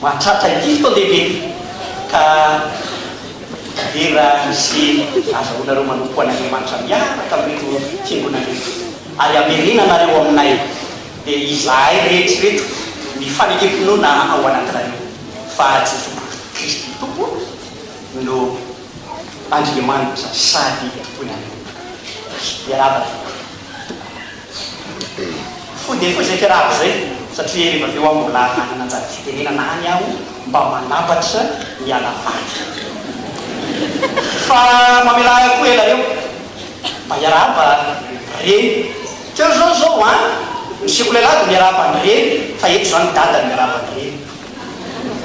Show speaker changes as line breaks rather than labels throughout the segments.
Mahatratra dimy taon-dehibe ka vera izay azahoanareo manompo an'Andriamanitra miaraka amin'ireto fiangonana ireto ary hamerena anareo aminay dia izahay rehetra ireto ny fanekem-pinoana ao anatinareo fa Jesosy Kristy Tompo no Andriamanitra sady Tomponareo. Miarahaba tompoko. Foidefoizeko raha izay satria rehefa avy eo aho mbola hanana anjara fitenenana any aho mba manapatra ny ala vaky. Fa mamelà ahy koa ela eo mba hiarahaba reny. Teo izao izao an! Ny sekolelah dia miarahaba ny reny fa eto izao ny dada miarahaba ny reny.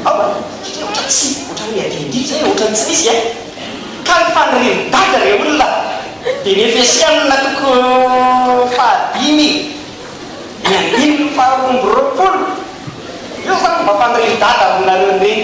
Aoka aloha satria ohatra tsy, ohatra hoe adiadia zay e, ohatra ny tsy nisy e. Ka ny fanirian'i Dada re olona dia ny FSM-na toko fahadimy ny andininy faharoa amby roapolo. Io zany no mba fanirian'i Dada aminareo reny.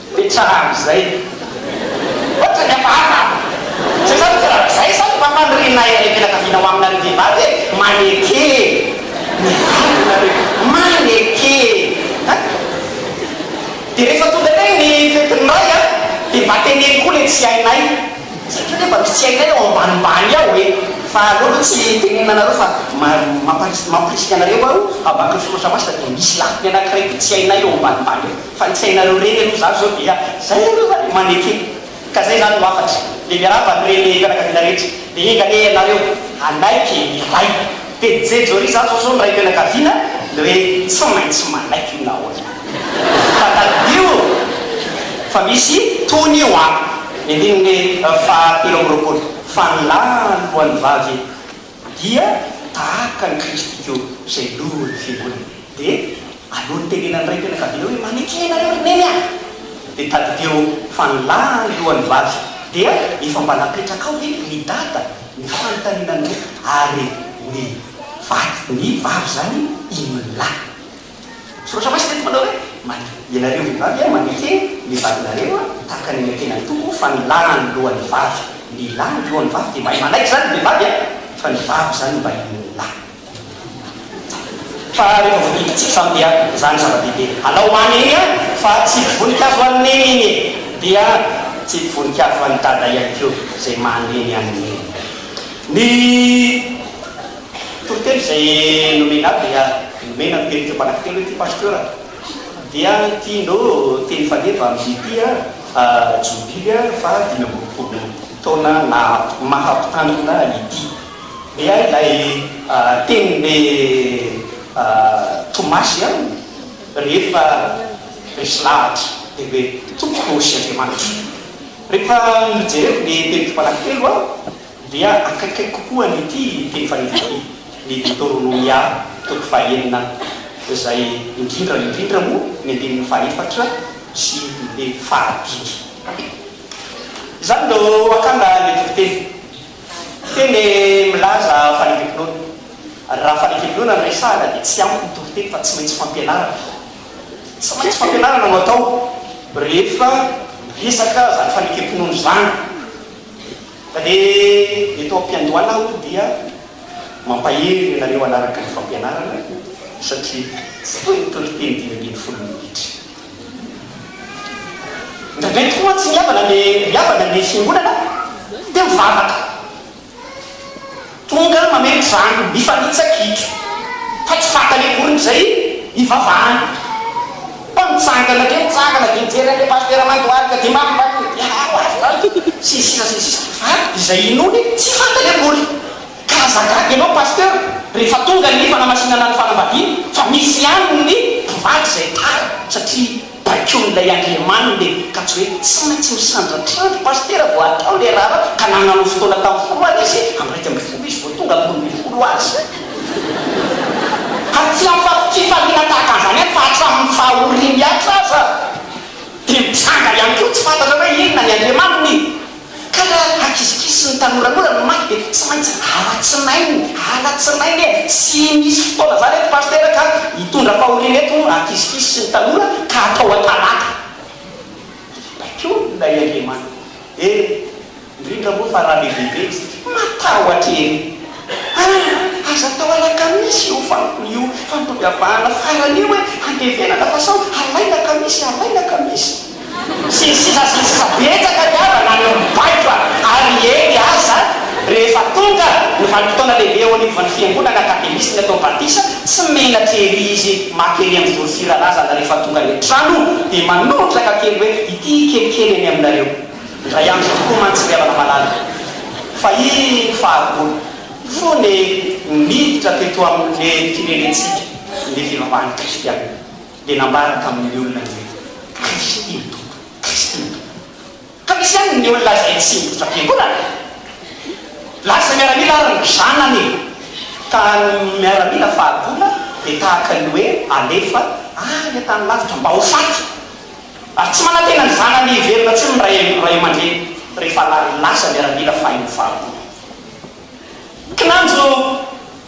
Be tsaran'izay. Ohatrany efa aza an! Tsy izany ve raha izay izany mba fanirianay ilay fianakaviana ho aminareo vehivavy e! Maneke e! Mivaly nareo e! Maneke e! An! Dia rehefa tonga indray ny fetin'ny ray an, dia mba teneno koa ilay tsy hainay satria hoe mba misy tsy hainay ao ambanimbany ao e! Fa aleo aloha tsy tenenina anareo fa mampa-risika anareo aho, ambakiny soratra masina dia misy lafiny anankiray koa tsy hainay ao ambanimbany ao. Fa ny sainareo reny aloha zany zao dia zay aloha zany maneke ka zay zany no hafatra dia miarahaba ny reny fianakaviana rehetra dia enga anie ianareo hanaiky ny ray dia jejoria zany zao zao ny raim-pianakaviana dia hoe tsy maintsy manaiky io na ahoana fa tadidio fa misy tohiny io an! Ny andininy fahatelo amby roapolo. Fa ny lahy alohan'ny vavy e! Dia tahaka an'i Kristy ko, izay Lohan'ny Fiangonana. Dia aleo ny tenenan'ny ray fianakaviana hoe, Manekena anareo ry Neny a! Dia tadidio fa ny lahy no lohan'ny vavy. Dia efa mba napetrakao ve ry Dada ny fanontaniana an'ireo, ary ny vady, ny vavy izany, inona ny lahy? Soratra masina eto manao hoe, Maty. Ianareo vehivavy a, mandihy e, ny vadinareo a, tahaka ny an'ilay tenan'ny Tompo fa ny lahy no lohan'ny vavy. Ny lahy no lohan'ny vavy dia mahay manaiky izany ny vehivavy a, fa ny vavy izany no mba henon'ny lahy. Fa rehefa voahiditsiky izany dia izany zava-dehibe. Alao ho any eny a, fa tsipy voninkazo ho an'i Neny eny e, dia tsipy voninkazo ho an'i Dada ihany koa izay maha Neny an'i Neny. Ny. Toriteny izay nomena ahy dia nomena ny teny teo manankiteny hoe ty pasteur dia ty no teny faneva amin'ny ty jobily faha dimy ambin'ny folo taona maha mpitandrina ity. Dia ahy ilay teny be tomasy aminy rehefa resy lahatra dia hoe tompoko sy Andriamanitro. Rehefa nojereko ny teny teo manankitelo aho, dia akaikay kokoa an'ity teny faridy ity, ny Deoterônômia toko fahenina, izay indrindra indrindra moa ny andininy fahefatra sy ny fahadimy. Izany no akanga ny tokoteny. Teny milaza fanekempinoana. Raha fanekempinoana no resahana dia tsy ampy ny tokoteny fa tsy maintsy fampianarana. Tsy maintsy fampianarana no atao rehefa miresaka izany fanekempinoana izany. Fa ny eto am-piandohana aho dia mampahery ianareo hanaraka ny fampianarana satria tsy toy ny toriteny dimy ambin'ny folo minitra. Indraindray tokoa mantsy ry havana ny ry havana ny fiangonana dia mivavaka. Tonga mameno zandriny mifanitsa-kitro fa tsy fantany akory izay ivavahany. Fa mitsangana dia mitsangana dia mijery an'ilay pasitera mandohalika dia mambany hoe miarahaba azy izany sy ny sisa sy ny sisa fa izay inoany tsy fantany akory. Ka aza gaga ianao pasitera rehefa tonga ny fanamasìnana ny fanambadiana fa misy ihany ny mpivady izay tara satria. baikoin'ilay andriamaniny le ka tsy hoe tsy maintsy misandratrandry pasitera vao atao le raharaha ka nananao fotoana tam folo aly izy am iraika ambin'ny folo izy vao tonga am roa ambin'ny folo azy ary tsy am fifaliana tahaka an'izany ihany fa hatramin'ny faha orimy ihatra aza dia mitsanga ihany koa tsy fantatra hoe inona ny andriamaniny Ka raha hakisikisy ny tanora koa raha ny maty dia tsy maintsy alatsinainy, alatsinainy e! Tsy misy fotoana zany eto Pasitera ka hitondra fahoriana eto ny hakisikisy sy ny tanora ka hatao an-talata. Hibaiko olona i Andriamanitra e! Indrindra moa fa raha be dia be isika. Matahotra ery! An! Aza atao alakamisy io fantony io, fa mitovy avahana farany io hoe andevenana fa sao alaina kamisy, alaina kamisy. Sy ny sisa sy ny sisa Betsaka ny havana any amin'ny baiko ary hely aza rehefa tonga ny vanim-potoana lehibe eo anivon'ny fiangonana Akademisy ny atao batisa, tsy menatra ery izy maka ery amin'ny vory firarazana rehefa tonga any an-trano dia manondraka kely hoe ity kelikely eny aminareo indray andro tokoa mantsy ry havana malala fa iny fahagola fony miditra teto amin'ny firenentsika ny fivavahan'ny kristiana. dia nambara tamin'ny olona ny hoe, Kristy no Tompo! Kristy no Tompo! Ka misy ihany ny olona izay tsy miditra am-piangonana e! Lasa miaramila ary ny zanany e! Ka ny miaramila fahagola dia tahaka ny hoe alefa any an-tany lavitra mba ho faty! Ary tsy manantena ny zanany hiverina intsony ny ray aman-dreny rehefa lasa miaramila fahiny fahagola. Kinanjo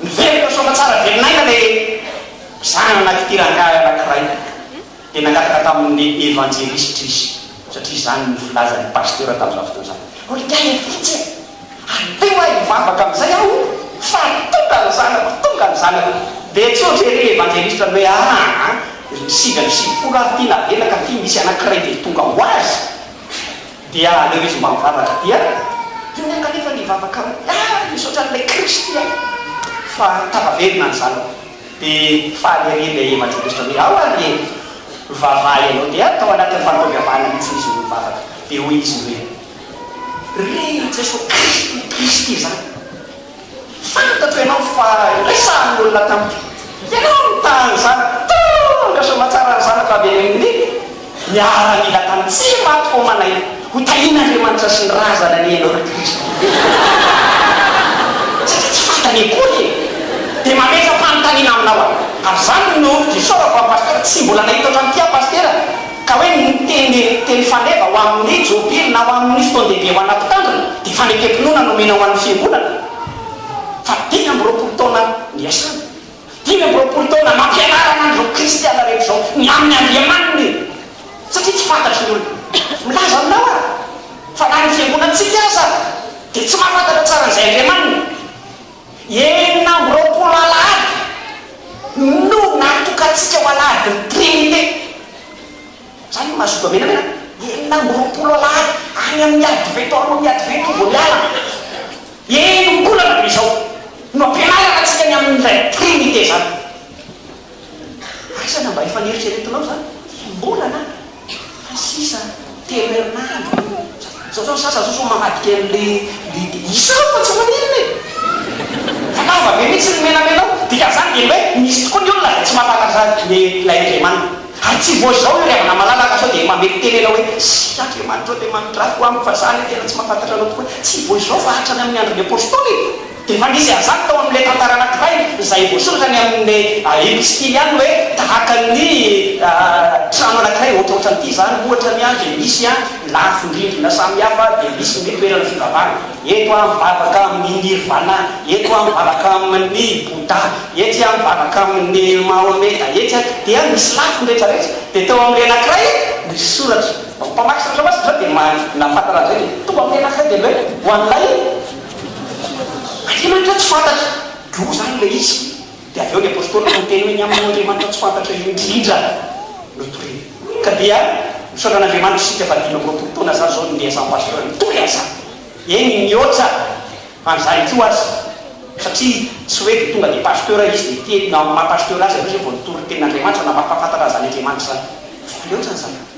miverina soa aman-tsara velon'aina ilay zanak'ity rangahy anankiray, dia nangataka tamin'ny Evanjelisitra izy, satria izany no filazan'ny Pasitera tamin'izany fotoana izany, Hoe miaina vitsy e! Aleo aho hivavaka amin'izay aho fa tonga ny zanako, tonga ny zanako! Dia tsotra ery Evanjelisitra ny hoe, Aa, ry sivy amby sivifolo ary ity navelaka, ty misy anankiray dia tonga ho azy! Dia aleo izy mba mivavaka dia iny aho kanefa nivavaka amin'i ah misaotra an'ilay Kristy aho fa tava velona ny zanako dia faly ery ilay evanjelistra hoe ao ary e vavaha ianao dia tao anatin'ny fankavavahana mihitsy izy no nivavaka dia hoy izy hoe ry Jesoa Kristy Kristy izany Fantatro ianao fa indray sahan'ny olona tamiko. Ianao no ta an'izany. Tonga soa aman-tsara ny zanako avy any amin'ny miaramila tany. Tsy maty homana io. Ho tahian'Andriamanitra sy ny razana anie ianao ry Kristy. Satria tsy fantany akory e. Dia mametra-panontaniana aminao aho. Ary izany no isaorako an'i Pasitera. Tsy mbola nahita ohatran'ity aho Pasitera. ka hoe ny miteny teny faneva ho amin' ny Jobily na ho amin' ny fotoan-dehibe ho ana mpitandrina dia fanekem-pinoana nomena ho an' ny Fiangonana fa dimy amby roapolo taona niasana. Dimy amby roapolo taona nampianarana an' izao Kristiana rehetra izao ny amin' ny Andriamaniny satria tsy fantatry ny olona. Milaza aminao aho fa na ny Fiangonantsika aza dia tsy mahafantatra tsara an' izay Andriamaniny. Enina amby roapolo Alahady no natokantsika ho Alahadin'ny Trinite. Zany ny mahazoto menamena, enina amby roapolo Alahady, any amin'ny Advento, alohan'ny Advento vao miala. Enim-bolana be izao no ampianarana antsika ny amin'ilay Trinite izany. Aiza na mba efa neritreretinao izany? Enim-bolana? Fa sisa telo herinandro e! Zao zao ny sasany zao sao mamadika anle isa aho fa tsy maninona e! Fa lava be mihitsy ny menamena ao! Dikan'izany dia ny hoe misy tokoa ny olona izay tsy mampahatakatra ny ilay Andriamaniny. Ary tsy vao izao io ry havana malalaka sao dia mameky teny ianao hoe Sia Andriamanitra ô dia manondrafy ho amiko fa za anie tena tsy mampahantatra anao tokoa. Tsy vao izao fa hatrany amin'ny andron'ny apostoly e! Efa nisy an'izany tao amin'ilay tantara anankiray izay voasoratra ny amin'ny epistily ihany hoe tahaka ny trano anankiray ohatrohatran'ity izany ohatra ny dia misy ny lafin-drindrina samihafa dia misy ny toerana fivavahana eto aho mivavaka amin'ny nirvana eto aho mivavaka amin'ny bouddha etsy aho mivavaka amin'ny mahometa etsy aho dia misy lafiny rehetrarehetra dia tao amin'ilay anankiray misy soratra ny mpamaky soratra masina izao dia nahafantana an'izay dia toa amin'ny anankiray dia ny hoe ho an'ilay Aty mantsy tsy fantatra, droa zany ilay izy, dia avy eo ny apostoly no niteny hoe ny amin'ny Andriamanitra tsy fantatra indrindra no torina, ka dia misaotra an'Andriamanitra isika fa dimy amby roapolo taona zah zao no ndeha asampy pasteur nitory an'izany, eny nihoatra an'izany koa aza, satria tsy hoe dia tonga dia pasteur izy dia ity amin'ny maha pasteur azy aloha izay vao nitory ny tenin'Andriamanitra na maha mpahafantatra an'izany Andriamanitra izany, fa aleo aza an'izany.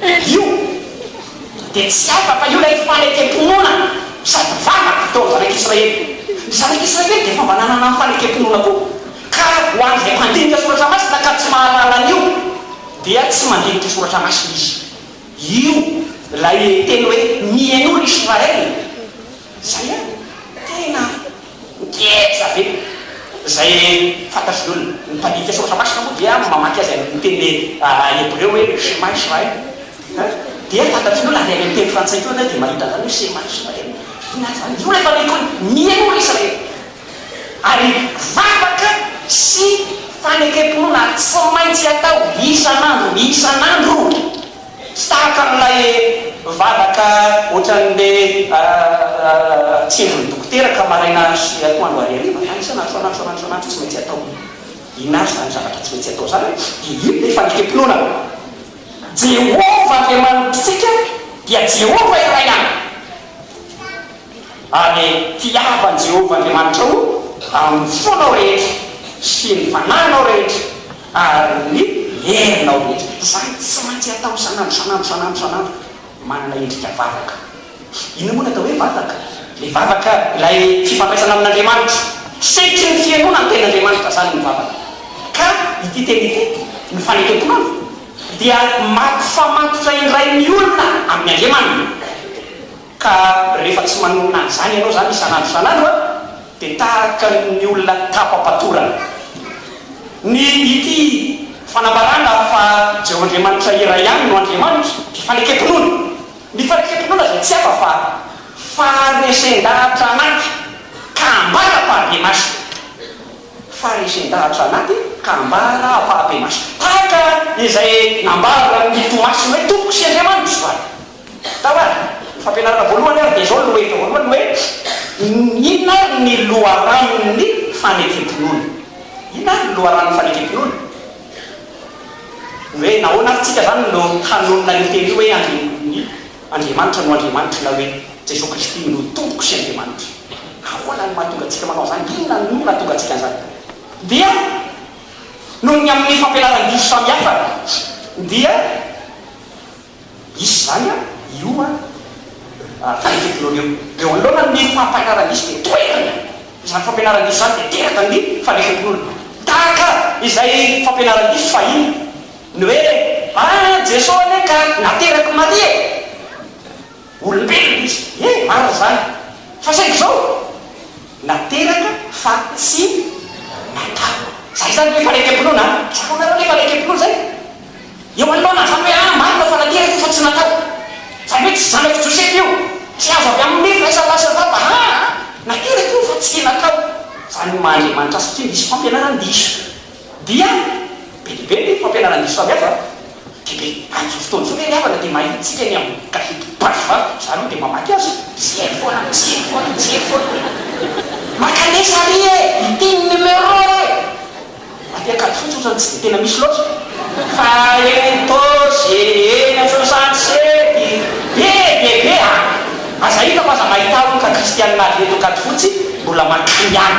Io dia tsy hafa fa io ilay fanekem-pinoana sady vavaka teo amin'ny Zanak'Israely. Ny Zanak'Israely dia efa mba nanana ny fanekem-pinoana koa, ka raha ho an'izay mpandinika Soratra Masina ka tsy mahalala an'io, dia tsy mandinika Soratra Masina izy. Io ilay teny hoe mihainoa ry Israely! Zay an! Tena ngeja be! Zay fantatry ny olona. Ny mpandika soratra masina moa dia mamaky azy any amin'ny teny hebreo hoe Shema Israel. Dia fantatry ny olona ary any amin'ny teny frantsay koa ianao dia mahita izany hoe Shema Israel. Inona ary izany? Ny olona efa miheno hoe Mihainoa ry Israely! Ary vavaka sy fanekem-pinoana tsy maintsy atao isan'andro isan'andro. Tsy tahaka an'ilay vavaka ohatran'ny be tsindron'ny dokotera ka maraina andro sy atoandro ary hariva na isan'andro isan'andro isan'andro isan'andro tsy maintsy atao. Inona avy izany zavatra tsy maintsy atao izany? Dia inona ilay fanekempinoana? Jehovah Andriamanitritsika dia Jehovah iray ihany. Ary tiavo an'i Jehovah Andriamanitrao amin'ny fonao rehetra sy ny fanahinao rehetra ary ny herinao rehetra. Izany tsy maintsy atao isan'andro, isan'andro, isan'andro, isan'andro. Manana endrika vavaka. Inona moa ny atao hoe vavaka? Ilay vavaka, ilay fifandraisana amin'Andriamanitra. Sehatry ny fihainoana ny Tenin'Andriamanitra izany ny vavaka. Ka ity teny ity, ny fanekemponana, dia mampifamatotra indray ny olona amin'Andriamaniny. Ka rehefa tsy manonona an'izany ianao izany isan'andro isan'andro dia tahaka ny olona tapa-patorana. Ny ity fanambarana fa Jeho Andriamanitra iray ihany no Andriamanitra dia fanekempinoana. Ny fanekempinoana izay tsy hafa fa faharesen-dahatra anaty ka ambara am-pahabe-maso. Faharesen-dahatra anaty ka ambara am-pahabe-maso. Tahaka izay nambaran'ny Tomasina hoe Tompoko sy Andriamanitro izany. Tao ary, ny fampianarana voalohany ary dia izao ny lohahevitra voalohany hoe, Inona ary ny loharanon'ny fanekem-pinoana? Inona ary ny loharanon'ny fanekem-pinoana? Ny hoe nahoana ary tsika izany no hanonona io teny io hoe Andrian-dry Andriamanitra no Andriamanitro na hoe Jesoa Kristy no Tompoko sy Andriamanitro? Ahoana no mahatonga antsika manao izany? Inona no nahatonga antsika an'izany? Dia noho ny amin'ny fampianaran-diso samihafa dia. Hisy izany an, io an, raha io finoana io. Eo anoloana ny fampianarana hisy dia toetana izany fampianarana hisy izany dia teraka ny fanekempinoana. Tahaka izay fampianarana hisy fahiny, ny hoe, ah, Jeso anie ka nateraky Maria e! Olombelona izy, ie, marina izany, fa saingy izao, nateraka fa tsy natao. Izay izany ilay fanekempinoana an! Tsapanareo ilay fanekempinoana izay? Eo anoloana an'izany hoe, ah, marina fa nateraka io fa tsy natao. Izany hoe tsy zanak'i Josefa io, tsy azo avy amin'ny nify ilay sandary sy ny vava, aa, nateraka io fa tsy natao. Izany maha Andriamanitra azy satria misy fampianarana diso. Dia be dia be ny fampianarana ny diso samihafa dia be, amin'izao fotoana izao ve ny havana dia mahitsika ny amin'ny gazety basy va? Za aloha dia mamaky azy, tsy heno foana, tsy heno foana, tsy heno foana. Makanesa ary e! Ity ny numéro e! Raha te akady fotsiny otrany tsy dia tena misy loatra fa eny Tosh e, eny Afovosanto sety, be dia be a! Aza hita fa aza mahita olon-ka kristianina avy eto Ankadifotsy mbola mankany any.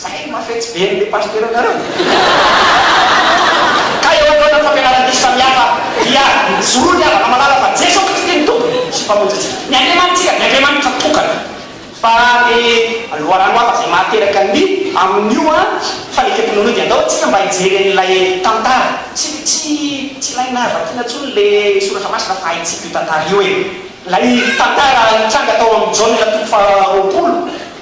Zay no maha fetsy be an'ilay pasitera anareo e! Ka eo anoloan'ny fampianarana diso samihafa dia mijoro ny havana malala fa Jeso Kristy no Tompo sy Mpamonjintsika, ny Andriamanitsika, ny Andriamanitra tokana. Fa ny loharano hafa izay mahateraka ny amin'io an, fanekem-pinoana io dia andao tsika mba hijery an'ilay tantara. Tsy, tsy, tsy ilaina vakiana intsony ilay soratra masina fa haintsika io tantara io e! Ilay tantara nitranga tao amin'ny Jaona toko faharoapolo.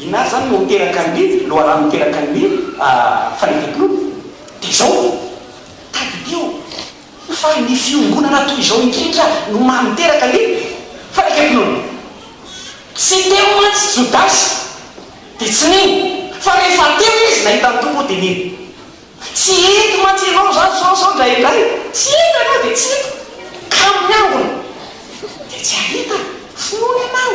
Inona ary izany no teraka ny Nil, loharano miteraka ny Nil, fanefem-pinoana? Dia izao, tadidio fa ny fiombonana toy izao indrindra no maha miteraka ny fanekempinoana. Tsy teo mantsy Jodasy, dia tsy nino, fa rehefa teo izy, nahita ny Tompo, dia nino. Tsy eto mantsy ianao izany izao izao indraindray, tsy eto ianao dia tsy eto, ka amin'ny angona dia tsy hahita finoana ianao.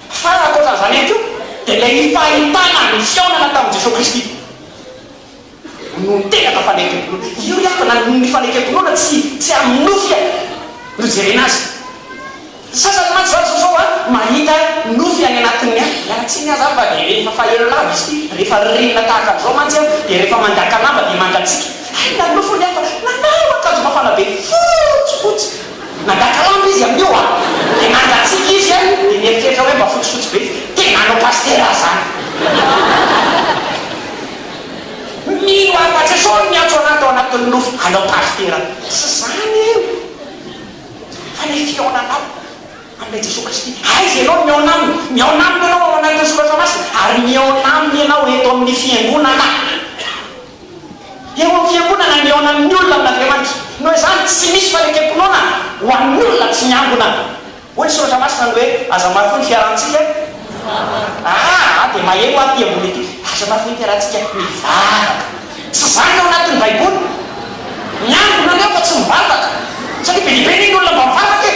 Fa ny ankoatra an'izany ihany koa dia ilay ny fahitana ny fihaonana tamin'i Jesoa Kristy no tena atao fanekem-pinoana. Io ry havana no ny fanekem-pinoana tsy tsy amin'ny nofy e! no ijerena azy. Ny sasany mantsy izao zao a, mahita nofy any anatin'ny a, miala tsiny aza fa dia rehefa faheno lava izy ity, rehefa ririnina tahaka an'izao mantsy a, dia rehefa mandaka lamba dia mangatsiaka, hay na nofy hono ny hafa, nanao akanjo mafana be fotsifotsy, Mandaka lamba izy amin'io a! Dia mangatsiaka izy a! Dia mieritreritra hoe mba fotsifotsy be izy. Tena hanao pasitera aza zany! Mino aho fa Jesosy no niantso an'ahy tao anatin'ny nofy hanao pasitera. Tsy zany e! Fa ilay fihaonanao amin'ilay Jesosy Kristy. Aiza ianao no mihaona Aminy? Mihaona Aminy ianao ao anatin'ny Soratra Masina ary mihaona Aminy ianao eto amin'ny Fiangonana. Eo amin'ny Fiangonana nihaona amin'ny olona amin'Andriamanitra. Noho izany, tsy misy fanekem-pinoana ho an'ny olona tsy miangona. Hoy ny Soratra Masina ny hoe, Aza marofoy ny fiarahantsika. Aa dia maheno aho ity ambony ity, Aza marofoy ny fiarahantsika, mivavaka. Tsy izany ny ao anatin'ny Baiboly. Miangona ny ao fa tsy mivavaka. Satria be dia be anie ny olona mba mivavaka e!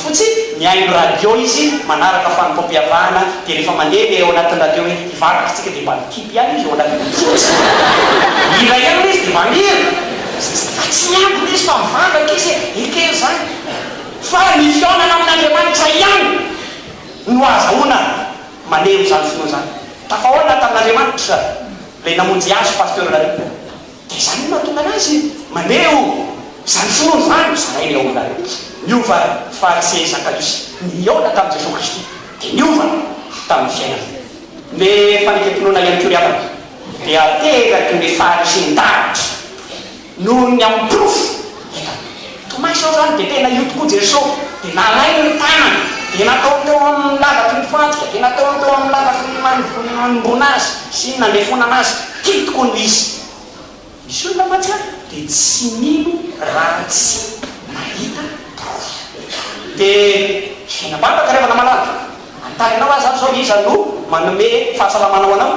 Fotsiny, mihaino radio izy manaraka fanompoam-piavahana dia rehefa mandeha ilay ao anatin'ny radio hoe hivavaka isika dia mba mikipy ihany izy ao anatin'ny radio fotsiny. Mihira ihany ilay izy dia mba mihira. Fa tsy miambina izy fa mivavaka izy e! Ekena izany. Fa ny fihaonana amin'Andriamanitra ihany no ahazahoana maneho izany finoana izany. Tafahaona tamin'Andriamanitra ilay namonjy azy, Pasteur Lariboe. Dia izany no mahatonga anazy maneho izany finoana izany, ho zarainy ao amin'ilay izy. Niova Farisey Zakaiosy nihaona tamin'i Jesoa Kristy, dia niova tamin'ny fiainany. Ny fanekempinoana ihany koa ry havana dia ateraky ny faharisin-davitra noho ny amin'ny porofo hitany. Tomay sao zany dia tena io tokoa Jeso dia nalainy ny tanany dia nataony teo aminy ny lavaky ny fantsika dia nataony teo aminy lavaky ny nanomboana azy sy ny nandefonana azy tiny tokoa no izy misy olona mahatsiaro dia tsy mino raha tsy mahita porofo dia saina baba ka ry havana malala anontany anao aza aho zao iza no manome fahasalamana ho anao?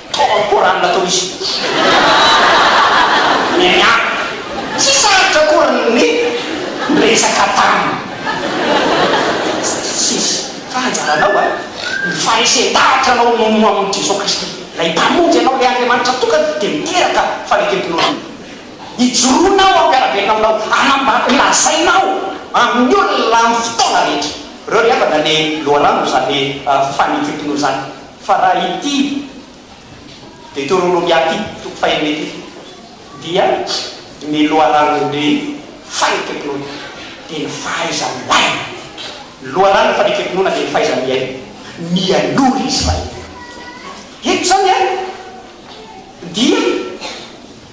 Tao amin'ny Coran nataon'izy ireo ny mianaka. Tsy sarotra akory ny niresaka taminy. Sadosisy, fa anjaranao an, ny faharesen-davitra anao no ho amin'i Jesoa Kristy. Ilay Mpamonjy anao, ilay Andriamanitra tokana dia miteraka fanekempihaonana. Ijoroana aho hampiara-belona aminao, hanambara, holazaina aho amin'ny olona amin'ny fotoana rehetra. Ireo ry havana ny loharano izany fanekempinoana izany. Fa raha ity Deteronomia ity, toko faha enina ity, dia ny loharanom-be fanekempinoana dia ny fahaiza-milaina. Ny loharanom fanekempinoana dia ny fahaiza-miaina mialoha ry Israely. Eto izany dia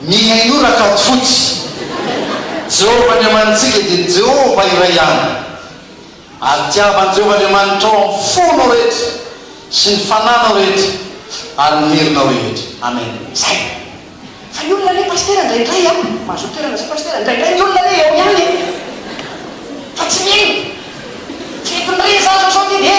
Mihainoa
Rakatofotsy! Jehovah Andriamanitsika dia Jehovah iray ihany. Ary tiavan'i Jehovah Andriamanitrao amin'ny fonao rehetra, sy ny fananao rehetra, ary ny herinao rehetra. Amen. Zay!
Fa ny olona anie Pasitera ndraindray an! Mahazoa toerana zay Pasitera, ndraindray ny olona anie eo ihany e! Fa tsy mino! Tsy mety mirehitra zavatra ohatr'iny e!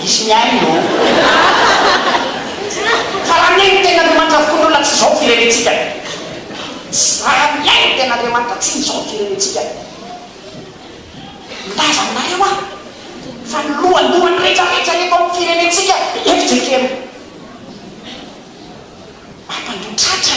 Hisy mihaino ô! Fa raha mihaino tena Andriamanitra avokoa ny olona tsy izao ny firenentsika e! Raha mihaino tena Andriamanitra tsy izao ny firenentsika e! Milaza aminareo aho fa ny lohalohan'ny rehetra rehetra eto amin'ny firenentsika FJKM. Mampandroa tratra.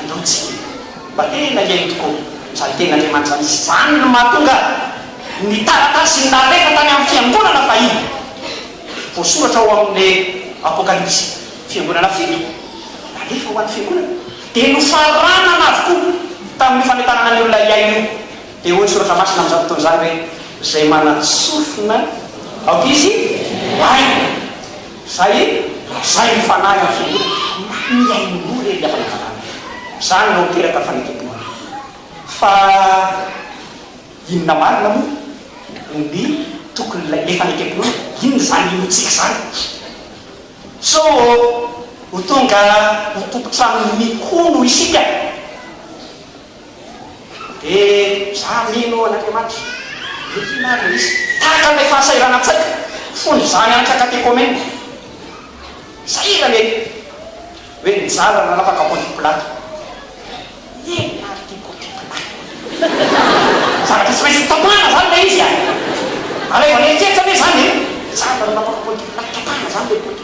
Andao tsika mba tena hihaino tokoa izany Tenin'Andriamanitra izany. Izany no mahatonga ny taratasy nalefa tany amin'ny fiangonana fahiny, voasoratra ao amin'ny Apokalypsy, fiangonana fito nalefa ho an'ny fiangonana, dia nofaranana avokoa tamin'io fanentanana ny olona hihaino io. Dia hoy ny Soratra Masina amin'izany fotoana izany hoe, Izay manana sofina, aoka izy hihaino. Zay e! Zay ny fanahy amin'ny fiangonana, mba mihaino roa re ry havana zanany. Zany no miteraka fanekempoana. Fa inona marina moa ny tokon'ilay le fanekempoana? Inona izany inoantsika izany? Sao ho tonga ho tompon-trano mikono isika? Dia za mino an' Andriamanitra. Inona ary no izy? Tahaka an'ilay fahasahiranantsaiko fony izaho nianatra katekomena. Sahirana ery! Hoe nizara nanapaka Ponty Pilato. Inona ary ity Ponty Pilato ity? Zavatra tsy maintsy hotapahana izany ilay izy an! Alaivo an'eritreritra ve izany e? Nizara nanapaka Ponty Pilato, tapahana izany ilay Ponty.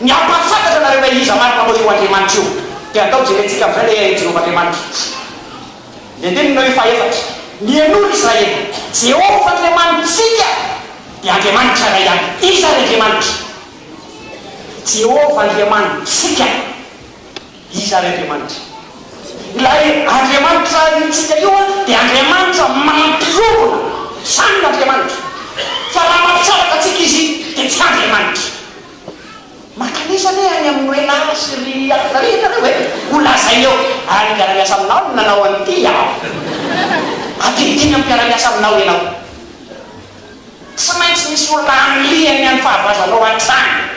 Ny hampahafantatra anareo ilay Iza marina moa io Andriamanitra io dia andao jerentsika amin'izay ilay Haian'i Jehovah Andriamanitra. Ny andinin'ny eo fahefatra, Mihainoa ry Israely, Jehovah Andriamanitsika dia Andriamanitra iray ihany. Iza ary Andriamanitra? Jehovah Andriamanitsika. Iza ary Andriamanitra? Ilay Andriamanitra hirintsika io dia Andriamanitra mampiorina, izany no Andriamanitra. Fa raha mampisaraka antsika Izy dia tsy Andriamanitra. Mankanesa anie any amin'ny hoe la sy ry ary zany ianareo e! Ho lazainy eo, ary mpiara-miasa aminao no nanao an'ity aho. Adinodino amin'ny mpiara-miasa aminao ianao. Tsy maintsy misy olona anilihany ny an'ny fahavazanao hatrany.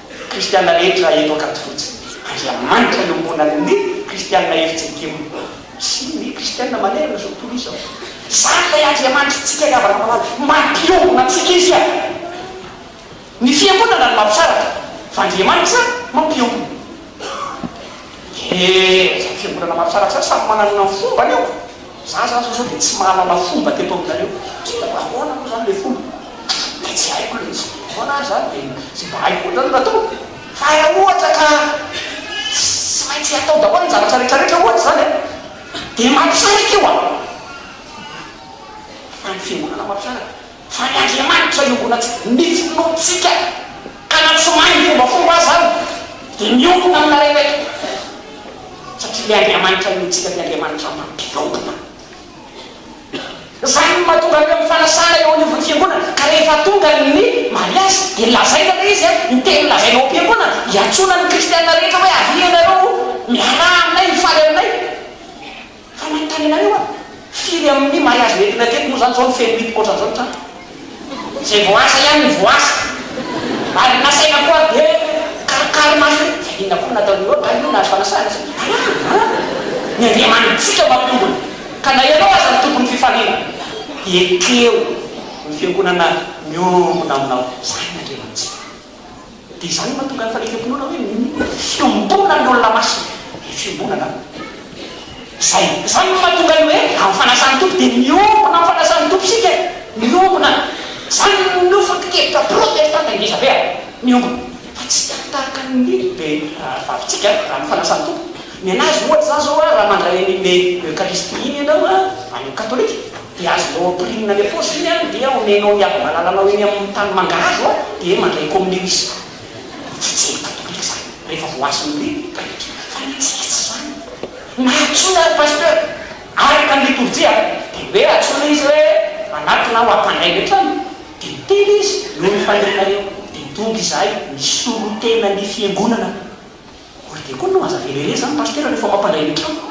Kristiana rehetra eto Ankadifotsy. Andriamanitra iombonany ny Kristiana Eritsekim sy ny Kristiana manerana izao tontolo izao. Izany ilay Andriamanitritsika ry havana malala, mampiombona antsika Izy an! Ny Fiangonana no mampisaraka, fa Andriamanitra mampiombona. Ee, izany Fiangonana mampisaraka izany samy manana ny fombany eo. Za zany zao sao dia tsy mahalala fomba teto aminareo tsy dia ahoana moa zany ilay fomba dia tsy haiko ilay izy ahoana ary zany dia izay mba haiko koa zany no atao fa raha ohatra ka tsy maintsy atao daholo ny zavatra rehetra rehetra ohatra izany an dia mampisaraka io an fa ny fiangonana mampisaraka Fa i Andriamanitra iombona antsika, ny finoantsika, ka na tsy mahay ny fombafomba aza aho, dia miombona aminareo eto, satria ilay Andriamanitra inoantsika dia Andriamanitra mampiombona. Izany no mahatonga an'ireo mifanasana eo anivon'ny Fiangonana, ka rehefa tonga ny mariazy dia lazaina ilay izy, ny teny lazaina ao am-piangonana, iantsoana ny kristiana rehetra hoe avia ianareo miaraha aminay, hifaly aminay. Fa manontany anareo aho, firy amin'ny mahay azy mety raiketo moa zany zao ny feno mitoka ohatran'izao ny trano? Izay vao asa ihany no voaasa. Ary nasaina koa ary dia karikary maso hoe, fa inona koa no nataon'i Lota an, io nahazo fanasana sa? Alàna an! Ny Andriamanitsika mampiombona, ka na ianao aza no tompon'ny fifaliana, dia ekeho ny fiangonana miombona aminao. Izany ny Andriamanitsika. Dia izany no mahatonga ny fanekempinoana hoe fiombonan'ny olona masina ny fiombonana. Izay. Izany no mahatonga ny hoe amin'ny fanasan'ny Tompo dia miombona amin'ny fanasan'ny Tompo isika e! Miombona. Izany no foto-kevitra protestanta indrisy be a! Miombona. Fa tsy tena tahaka ny lehibe vavintsika amin'ny fanasan'ny Tompo. Mianahy azy ohatra izany izao raha mandray an'iny le Eucharistie iny ianao amin'ny katolika. dia azonao ampirina any ampaosy iny an, dia omenao ny havamalalanao eny amin'ny tany mangahazo an, dia mandray kominio izy. Tsy tsiny katolika izany rehefa voahasin'ny ny pretra, fa ny antsika tsy izany. Na antsoina ary pasteur, araka ny litorjia an, dia hoe antsoina izy hoe anatona aho hampandray ny an-trano, dia miteny izy noho ny faniriana eo, dia tonga izahay misolo tena ny fiangonana Ory be koa no aza velele zany Pasteur rehefa mampandray ny trano.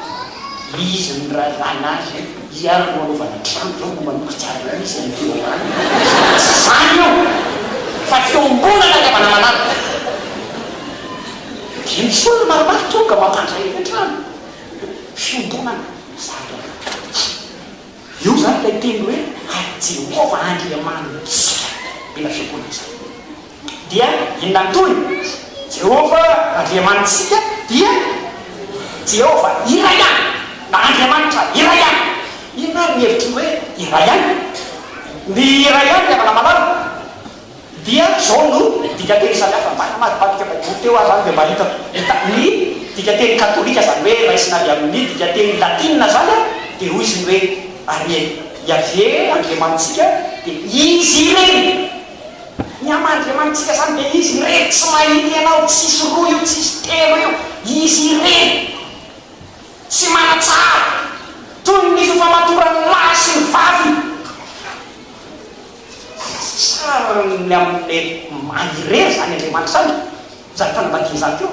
Izy mirahalahy lahy zay hiara no hanaovana trano zao no manomboka tsara indrindra izy any Toa any izany tsy zany io fa fiombonana ny havanamanana dia misy olona maromaro tonga mampandray ny trano fiombonana zany raha io zany ilay teny hoe ary Jehovah Andriamanitsika mila fiombonana izany. dia inona ny tohiny? Jehovah Andriamanitsika dia Jehovah iray ihany, na Andriamanitra iray ihany. Inona ary ny hevitr'io hoe iray ihany? Ny iray ihany, ry havana malala, dia izao no dikan-teny samihafa. Mba namadibadika Baiboly teo aho izany dia mba hitako. Ny dikan-teny katolika, izany hoe raisina avy amin'ny dikan-teny latina izany, dia hoy izy ny hoe, Amen, Iaveh Andriamanitsika dia izy irery. Ny ama Andriamanitsika zany dia izy irery tsy mahita ianao tsisy roa io tsisy telo io izy irery tsy manatsara toy ny fifamatoran'ny lahy sy ny vavy fa sasasarany amin'ny maha irery zany Andriamanitra zany Izany fanambadiana izany koa.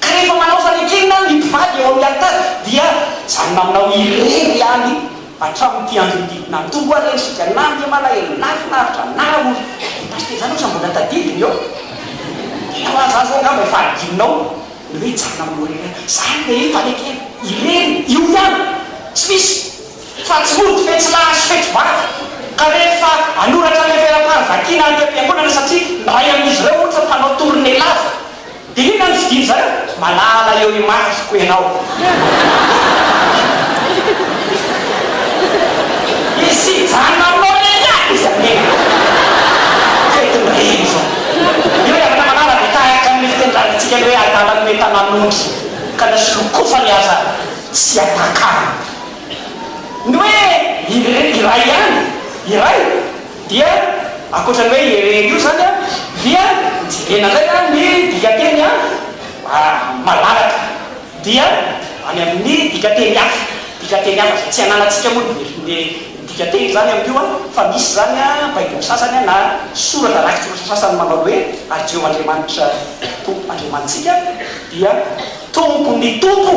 Ka rehefa manao fanekena ny mpivady eo amin'ny alitara dia izany maminao irery ihany hatramin'ity andro ity. Na toa rendrika, na dia malahelo, na finaritra, na rahory. Dia pasitera izany osa mbola tadidiny eo. Dia taloha izany izao angamba efa hadinonao ny hoe hijanona aminao irery ihany. Izany ve fanekena irery io ihany? Tsy misy. Fa tsy mody fe tsy mahazo fety vady ka rehefa anoratra ilay velam-pary vakiana any am-piangonana satria ny ray amin'izy ireo ohatra mpanao tournée lava dia inona no fidiny zareo? Malala eo imasoko ianao. Misy hijanona aminao eny ihany izy anie. Fetin'ny reny izao. Io ry Ramalala dia tahaka ny fitendrantsika ny hoe adala no entanan'ondry ka na solokofany aza tsy atakany. Ny hoe irery iray ihany, iray, dia ankoatra ny hoe irery io izany an, dia jerena indray an ny dikanteny an, malalaka, dia any amin' ny dikanteny hafa, dikanteny hafa izay tsy ananantsika moa ny ny dikanteny izany amin' io an, fa misy izany an baiboly sasany an na soratra rakitsoratra sasany manao ny hoe ary Jehovah Andriamanitra Tompo Andriamanitsika dia Tompon'ny tompo.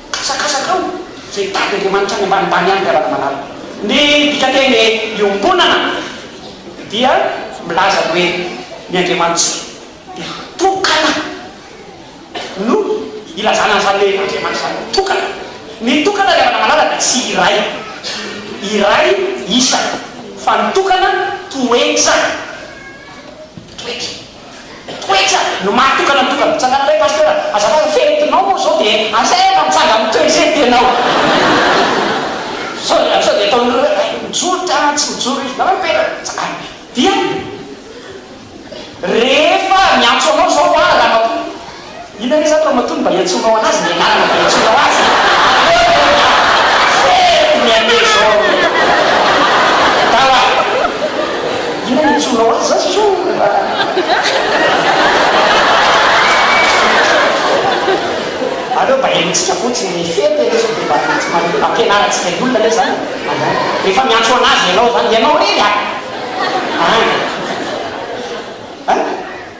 Asakasakao izay hitady Andriamanitra any ambanimbany any ry Ranamalala. Ny dikanteny hoe iombonana dia milaza ny hoe ny Andriamanitra dia tokana no ilazana an'izany hoe Andriamanitra izany no tokana. Ny tokana ry Ranamalala dia tsy iray, iray isa, fa ny tokana toetra, toetra. Toetra no mahatonga anao tonga mitsangana ilay pasteur a! Azafady ny fentinao moa zao dia asaina mitsanga am toy zay tianao a! Sao dia sao dia ataonareo hoe hay mijoro ty anah tsy mijoro izy nareo mipetraka dia tsangana dia rehefa miantso anao zao a ramatoa Inona re zany Ramatoa no mba iantsoanao anazy ny anarana mba iantsoanao azy e! Ahoana hono an! Faible ny an'e Jean e! Tao an! Inona no iantsoanao azy zany Jean o raha Aleo mba henontsika fotsiny ny fety anie sao dia mba tsy mba ampianarantsika ny olona anie zany e! Ahaa! Rehefa miantso anazy ianao zany, ianao re ny an! An!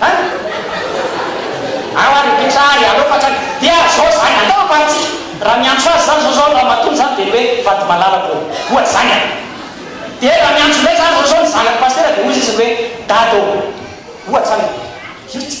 An! Ao ary ny mpitsara e! Aleoko hatrany! Dia zao zany, aleo ambanintsika! Raha miantso azy zany zao zao ny ramatoany zany dia ny hoe Vatomalala ô! Ohatra zany an! Dia raha miantso indray zany zao zao ny zanak'i Pasitera dia hoy izy hoe Dada ô! Ohatra zany e! Zay izy.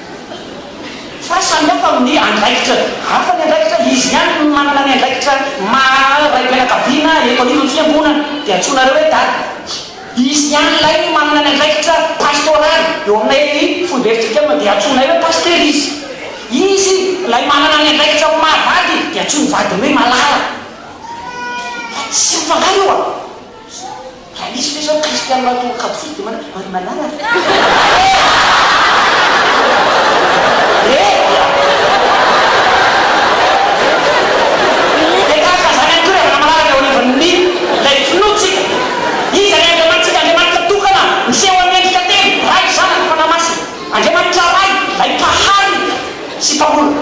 Fa samy hafa amin'ny andraikitra. Hafa ny andraikitra, izy ihany no manana ny andraikitra maha raim-pianakaviana eto anivon'ny fiangonana. Dia antsoinareo hoe dada. Izy ihany ilay no manana ny andraikitra pastoraly eo aminay foibe fijlikama dia antsoinay hoe pasitera izy. Izy ilay manana ny andraikitra amin'ny maha vady dia antsoin'ny vadiny hoe malala. Tsy mifankahala io a! Ka misy ve zao Kristiana matory kabosity dia manao, ry malala a! Eehh! Dia tahaka an'izany ihany koa ry havana malala ny eo anivon'ny ilay finoantsika. Iza ilay Andriamanitsika? Andriamanitra tokana, miseho amin'ny endrika telo, Ray, Zanaka, Fanahy Masina. Andriamanitra Ray, ilay Mpahary sy Mpamorona.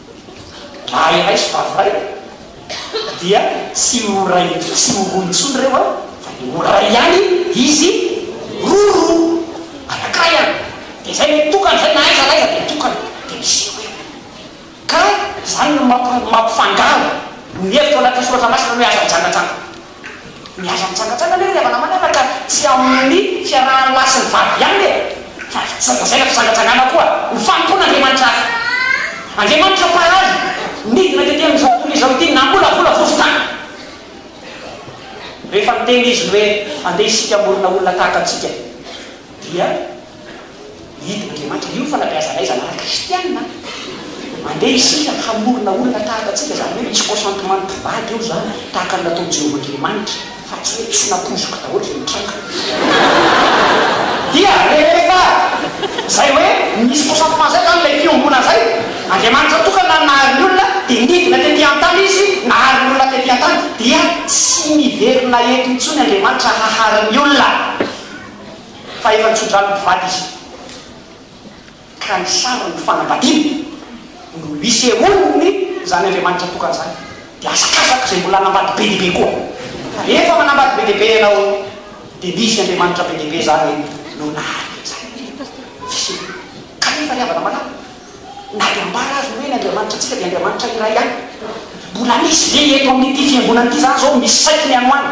Raha ialahy sy vavy iray dia tsy ho iray tsy ho roa intsony ireo an, fa dia ho iray ihany izy roa. Anankiray an, dia izay no tokana, izay na aiza na aiza dia tokana, dia misy eo e. Ka izany no mampifangaro ny hevitro anatin'ny soratra masina hoe aza mijangajanga. Milaza mitsangantsangana anie ry havanamanana ka ka tsy amin'ny fiarahan'ny lahy sy ny vavy ihany e! Fa tsy ho lazaina fitsangatsangana koa ho fanompoan'Andriamanitra hafa. Andriamanitra mpahay nidina tety amin'izao tontolo izao ity namolavola vovon-tany rehefa niteny Izy ny hoe andeha isika hamorona olona tahaka antsika dia Hidina Andriamanitra. Io no fanabeazanay zanahary kristiana. Andeha isika hamorona olona tahaka antsika, izany hoe misy consentement-n'ny mpivady eo izany, tahaka ny nataon'i Jehovah Andriamanitra, fa tsy hoe tsy nampoizoky daholo izay nitranga. Dia rehefa izay hoe nisy consentement izay izany, ilay fiombonana izay, Andriamanitra tokana nahary ny olona, dia nidina tetỳ an-tany izy, nahary ny olona tetỳ an-tany, dia tsy miverina eto intsony Andriamanitra hahary ny olona. Fa efa tso-drano mivady izy ka ny sarin'ny fanambadiana no isehoan'ny izany Andriamanitra tokana izany dia hazakazaka izay mbola hanambady be dia be koa fa rehefa manambady be dia be ianao dia misy Andriamanitra be dia be izany no naharitra izany fisiana kanefa ry havana malala na dia ambara azy ny hoe ny Andriamanitra antsika dia Andriamanitra iray ihany mbola misy ve eto amin'ity fiangonana ity izany izao misy saikiny hanohana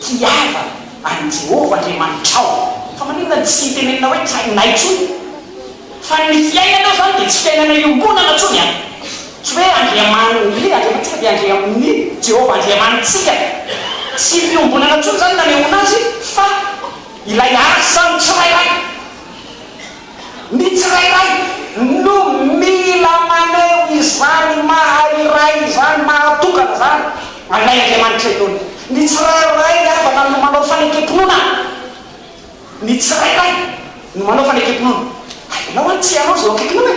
Tiava an'i Jehovah Andriamanitrao. Fa maninona no tsy tenenina hoe trainay intsony? Fa ny fiainanao izany dia tsy fiainana iombonana intsony an! Tsy hoe Andriamaniny Andriamanitsika dia Andriamaniny Jehovah Andriamanitsika. Tsy fiombonana intsony izany no nanehoana azy fa ilay Asa ny tsirairay. Ny tsirairay no mila maneho izany maha iray izany, maha tokana izany anay Andriamanitra inoany. Ny tsirairay havana no manao fanekem-pinoana. Ny tsirairay no manao fanekem-pinoana. Ianao an tsy ianao izay ho akaikinao e.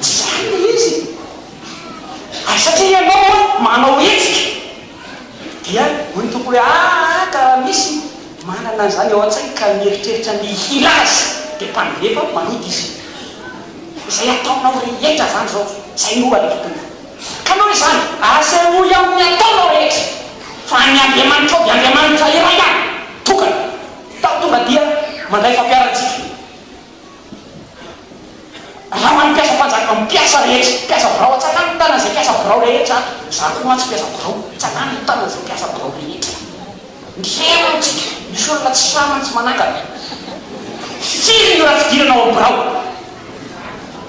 Tsy izany ilay izy e! ary satria ianao hono manao hetsika dia hoy ny Tompo hoe aa ka raha misy manana an'izany ao an-tsainy ka mieritreritra ny hila azy dia mpandefa maloto izy, izay ataonao rehetra izany izao izay no adidinao ka noho izany asehoy amin'ny ataonao rehetra fa ny Andriamanitrao dia Andriamanitra iray ihany tokana, tao tonga dia mandray fampiarantsika. Raha manao mpiasa mpanjaka amin'ny mpiasa rehetra, mpiasa birao aho, tsanano ny tanan'izay mpiasa birao rehetra ato, izaho koa mantsy mpiasa birao, tsanano ny tanan'izay mpiasa birao rehetra ato. Mihery aho tsika, misy olona tsy sahy mantsy manangana. Firy ny ora fidirana ao amin'ny birao?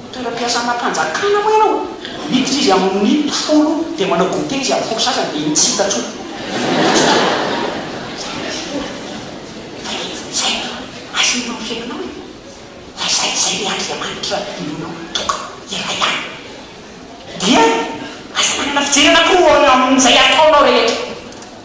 Ho toeram-piasana mpanjakana moa ianao? Miditra izy amin'ny folo dia manao goûter izy amin'ny folo sasany dia tsy hita intsony. Izay no asehonao ny fiainanao e! Fa izay izay ilay Andriamanitra inoanao mitoka ialahy ihany. Dia aza manana fijerana akory amin'izay ataonao rehetra.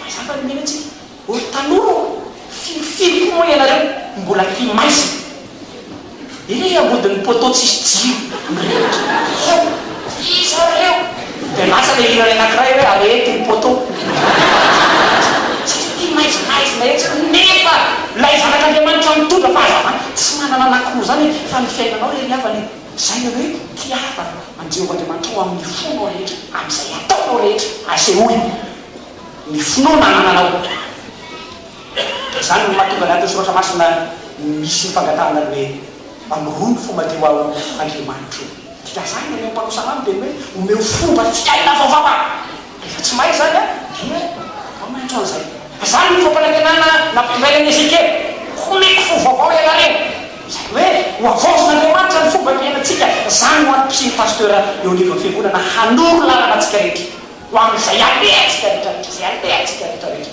Mazava ny menantsika ry tanora ô! Firifiry koa moa ianareo mbola aty maizina eny ambodin'ny poteau tsisy jiro mirehitra hao! Iza ary ireo? Dia lasa ilay hiran'ny anakiray hoe areety ny poteau satria ity maizimaizina etsy nefa ilay zanak'Andriamanitra mitondra fahazavana tsy manana anakoroa izany e! Fa ny fiainanao re ry havana e! Izay ny hoe tiava an'i Jehovah Andriamanitra ao amin'ny fonao rehetra, amin'izay ataonao rehetra. Asehoy ny finoana anananao. Dia izany no mahatonga ny atin'ny Soratra Masina misy ny fangatahana ny hoe, Mba miroro ny fo madio aho, Andriamanitro. Dia izany no mpanosy anao no teny hoe, Omeo fomba fiaina vaovao aho. Rehefa tsy mahay izany an, dia atao mihoatra an'izay. Izany no fampanantenana nampitondrainy an'i Ezekiela, Homeko fo vaovao ianareo. Izany hoe, hohavaozin'Andriamanitra ny fomba fiainantsika. Izany no antony fisian'ny pasteur eo anivon'ny fiangonana, hanoro lalana antsika rehetra ho amin'izay alehantsika rehetra rehetra, izay alehantsika rehetra rehetra.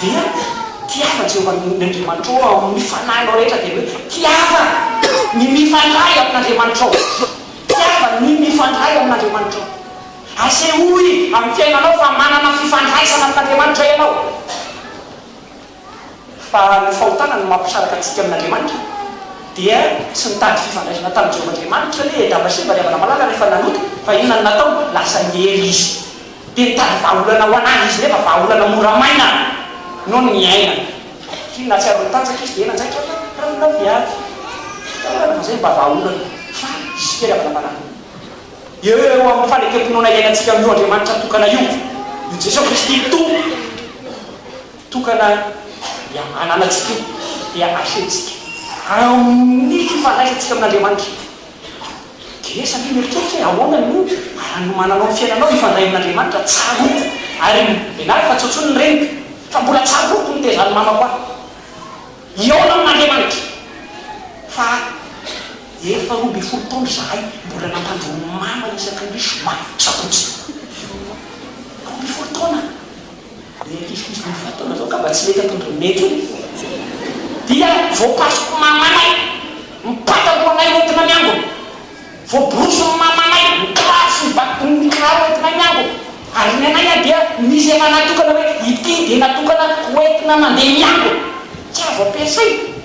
Dia tiava Jehovah ny Andriamanitrao ao amin'ny fanahinao rehetra dia hoe tiava ny mifandray amin'Andriamanitrao. Tiava ny mifandray amin'Andriamanitrao. Asehoy amin'ny fiainanao fa manana fifandraisana amin'Andriamanitra ianao. Fa ny fahotana no mampisaraka antsika amin'Andriamanitra. Dia tsy nitady fifandraisana tamin'i Jehovah Andriamanitra anie i Adama sy Eva, ry havana malala, rehefa nanota. Fa inona no nataony? Lasa niely izy. dia nitady vahaolana ho an'ahy izy nefa vahaolana mora maina noho ny iainana satria nahatsiaro nitanjaka izy dia nanjaitra ny ranolanon'ny ady Tena mazay ny mba vahaolana fa hisy fitiavana manaraka eo eo amin'ny fanekempinoana iainantsika amin'io Andriamanitra tokana io io Jesoa Kristy Tompo tokana dia ananantsika io dia ahentsika amin'ny fifandraisantsika amin'Andriamanitra Dia sampino eritreritra hoe ahoana no hanomananao ny fiainanao hifandray amin'Andriamanitra? Tsaroako ary ianareo fa tsy intsony ny reniko fa mbola tsaroako ny tezan'ny mamako ahy hihaona amin'Andriamanitra fa efa roa ambin'ny folo taona izahay mbola nampandroa mama isaky ny zoma, sabotsy. Roa ambin'ny folo taona! Ny ankisokoso mivantana zao ngamba tsy mety atondra mety io dia voakasiko mamanay ny patalohanay hoentina miangona, voaborosy ny mamanay ny kiraro sy ny ba ny kiraro hoentinay miangona ary ny anay a dia misy efa natokana hoe ity dia natokana hoentina mandeha miangona, tsy azo ampiasaina.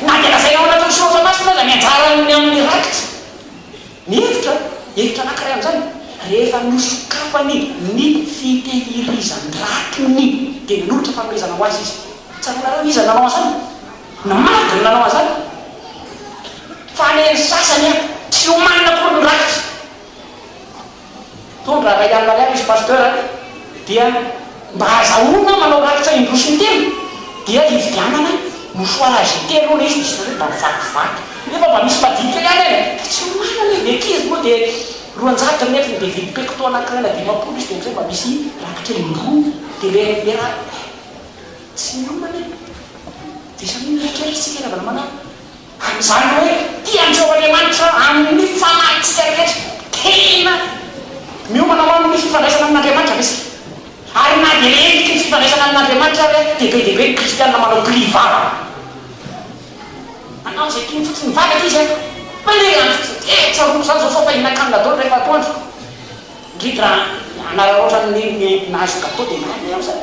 Na dia lazaina ao anatin'ny Soratra Masina aza ny anjaran'ny amin'ny rakitra, ny hevitra, hevitra anankiray amin'izany, rehefa nosokafany ny fitehirizan-drakiny, dia nanolotra fanomezana ho azy izy. Tsaroanareo iza no nanao an'izany? Namaly no nanao an'izany. Fa le ny sasany an, tsy omanina akory ny rakitra. Mpitondra ray alina ariary izy pasteur a! dia mba azahoana manao rakitra indroa sy intelo dia hividianana mouchoir age telo hono izy dia izy nareo mba mivakivaky nefa mba misy madinika ihany any e! dia tsy manana izy dia ankizy moa dia roanjato ny metriny dia hividy pecto anakiray na dimampolo izy dia amizay mba misy rakitra indroa dia le le ra tsy miomana e! dia isan'io mieritreritra isika raha vao manao Amin'izany hoe tia antsika Andriamanitra amin'ny fanahintsika rehetra. Tena miomana ho amin'ny fifandraisana amin'Andriamanitra ve isika? Ary na dia endriky ny fifandraisana amin'Andriamanitra ary aza, dia be dia be ny Kristianina manao prix vava. Manao izay tiany fotsiny mivavaka izy an! Maniry andro fotsiny. Tena tsaroako izany izao sao fa hihinan-kanina daholo rehefa atoandro. Indrindra anararaotra ny nenina azo gateau dia mahay ny amin'izany.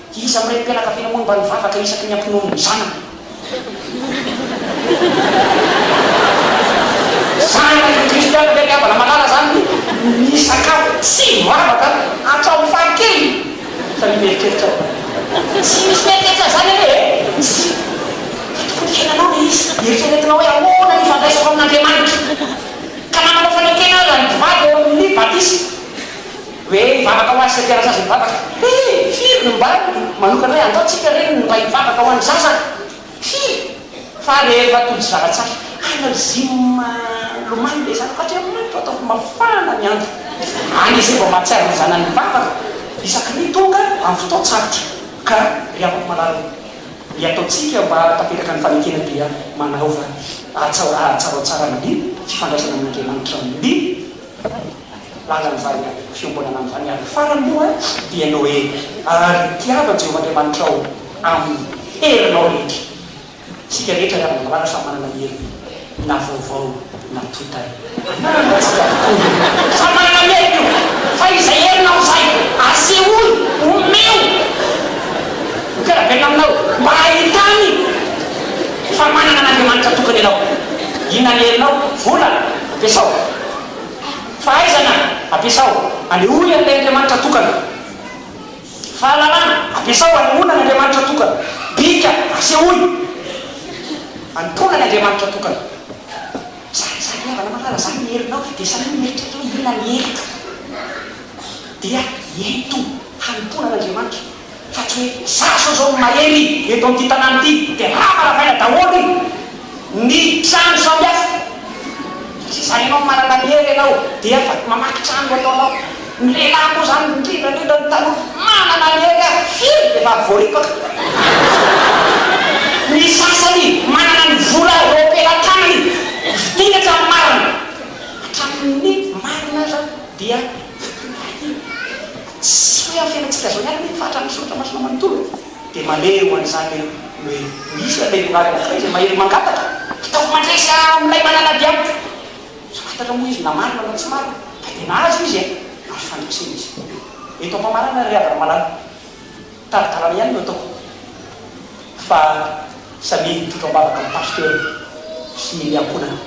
Iza amin'ny renim-pianakaviana moa no mba nivavaka isaky ny hampinono ny zanany? Zanaka ny kristiana ve ry havana malala izany ny sakafo tsy mivavaka? Hatramin'ny fahakeliny fa ny mieritreritra aho. Tsy misy mieritreritra an'izany anie e! Tsy dia tokony hiainanao ilay izy. Eritreretinao hoe ahoana ny ifandraisako amin'Andriamanitra. Ka nanana fanekena aza ny mpivady eo amin'ny batisa. Hoe hivavaka ho azy sy hampiara zaza mivavaka. He! Firy no mba manokana hoe andao tsika re ny mba hivavaka ho an'ny zaza? Firy? Fa rehefa tojo zara-tsahy. Ana Zim lomano be zanako Andriamanitra ataovy mafana ny andro. Any izay vao mahatsiaro ny zanany mivavaka isaky ny tonga amin'ny fotoan-tsarotra. Ka ry havako malala o, ny ataontsika mba hahatanteraka ny fanekena dia manaova hatsarohatsaran'ny fifandraisana amin'Andriamanitra ny. Izany laza an'izany an, fiombonana amin'izany an, farany moa dia Noely ary tiava Jehovah Andriamanitrao amin'ny herinao rehetra. Isika rehetra ry havana marary samy manana ny heriny na vaovao na totay. Anarana antsika avokoa io, samy manana ny heriny io, fa izay herinao izay asehoy, omeo ny mpiara-belona aminao mba hahitany fa manana an'Andriamanitra tokana ianao. Inona ny herinao? Vola? Ampiasao. Fahaizana, ampiasao. Anehoy an'ilay Andriamanitra tokana. Fahalalana, ampiasao anehoana an'Andriamanitra tokana. Bika, asehoy anompoana ny Andriamanitra tokana. Zany izany ry havana malala, zany ny herinao, dia sahio ny eritreritrao, inona ny heriko, dia ento hanompoana an'Andriamanitra. fa tsy hoe zatra zao ny mahery eto amin'ity tanàna ity dia hamaravaina daholo ny trano samihafa satria zany ianao manana ny hery ianao dia afaka mamaky trano ho ataonao, ny lehilahy moa zany indrindra indrindra ny tanora manana ny hery ary firy dia efa voaripaka, ny sasany manana ny vola eo am-pelatanany vidiana hatramin'ny marina, hatramin'ny marina aza dia vidiana daholo. Tsy hoe amin'ny fiainantsika izao ihany anefa hatrany ny Soratra Masina manontolo dia manery ho an'izany hoe ho hisy ilay Vehivavy anankiray izay mahery mangataka, ataovy mandresy ahy amin'ilay manana ady amiko. Tsy fantatra moa izy na marina na tsy marina fa dia nahazo izy e! Azo fandresena izy. Eto am-pamarana ry havana malala, tari-dalana ihany no ataoko fa samia hitrotro am-bavaka amin'ny Pasteur sy ny ankohonana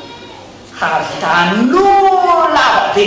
hahavita an'olona ava be.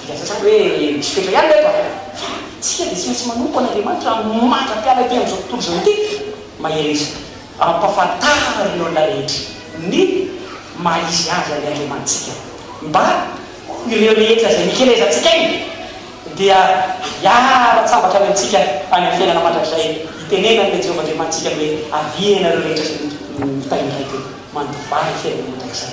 Dia ny sasany hoe misy fetra ihany ireto a! Fa isika dia tsy maintsy manompo an'Andriamanitra mandra-piala ety amin'izao tontolo izao ity. Mahereza ampahafantarin'ny olona rehetra ny maha izy azy an'i Andriamanitsika mba ho ireo rehetra izay mikelezantsika ainy dia hiara-tsambatra any amintsika any amin'ny fiainana mandrakizay. Itenenan'ilay Jehovah Andriamanitsika ny hoe, Avia ianareo rehetra izay mitaingina ety, mandivay fiainana mandrakizay.